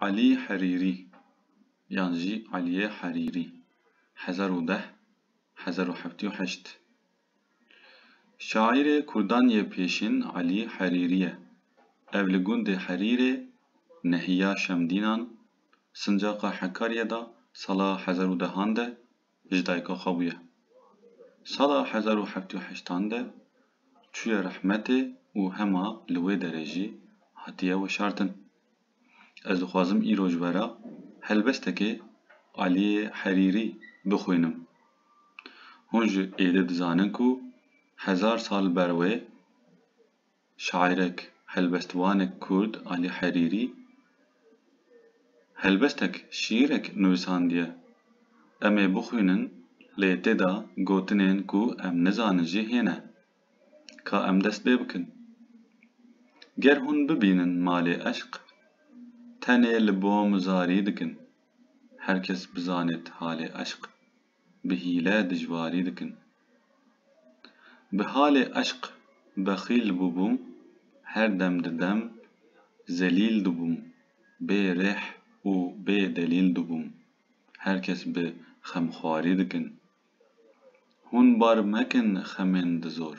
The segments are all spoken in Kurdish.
Elî Herîrî yan jî Elîyê Herîrî, hezar û deh - hezar û heftî û heşt, şaîrê kurdan yê pêşîn Elî Herîrî ye. Ev li gundê Herîrê, nehiya Şemdînan, sincaqa Hekaryê de sala hezar û dehan de, ji dayika xwe bûye. Sala hezar û heft û heştan de çûye rehmetê û hema li wê derê jî hatiye weşartin. Ez dixwazim îro ji vera helbestekê Aliyê Herîrî bixwînim. Hûn ji êdî dizanin ku hezar sal ber wê, şaîrek, helbestvanek kurd Alî Herîrî helbestek, şîîrek nivîsandiye. Em ê bixwînin lê tê de gotinên ku em nizanin jî hêne. Ka em dest pê bikin. Ger hûn bibînin malê eşq, tenê li bom zarî dikin. Her kes bizanêt halê eşq. bi hîle dijwarî dikin. Bi halê eşq bexîl bûbû, her dem di dem zelîl dibûm, bê rêh û bê delîl dibûm, her kes bi xemxwarî dikin. Hûn bar mekin xemên di zor,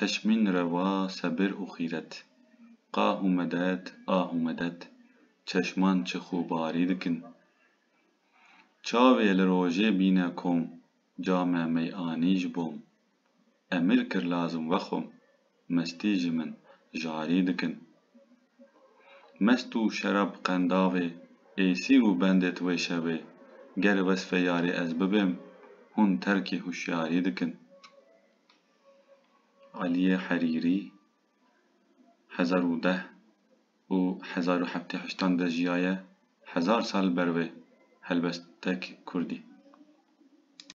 Teşmîn rewa sebir û xîret. Qah û medet, ah û medet, çeşman çix û barî dikin. Çavê li rojê bîne kom, came mey'anî ji bom. Emir kir lazim vexwim, mestî ji min jarî dikin. Mest û şerab qendavê, ê sîr û bendê ti wê şevê, ger wesfê yarê ez bibêm, hûn terkê huşyarî dikin. Aliyê Herîrî hezar û deh û hezar û heftê heştan de jiyaye, hezar sal ber wê helbestek kurdî.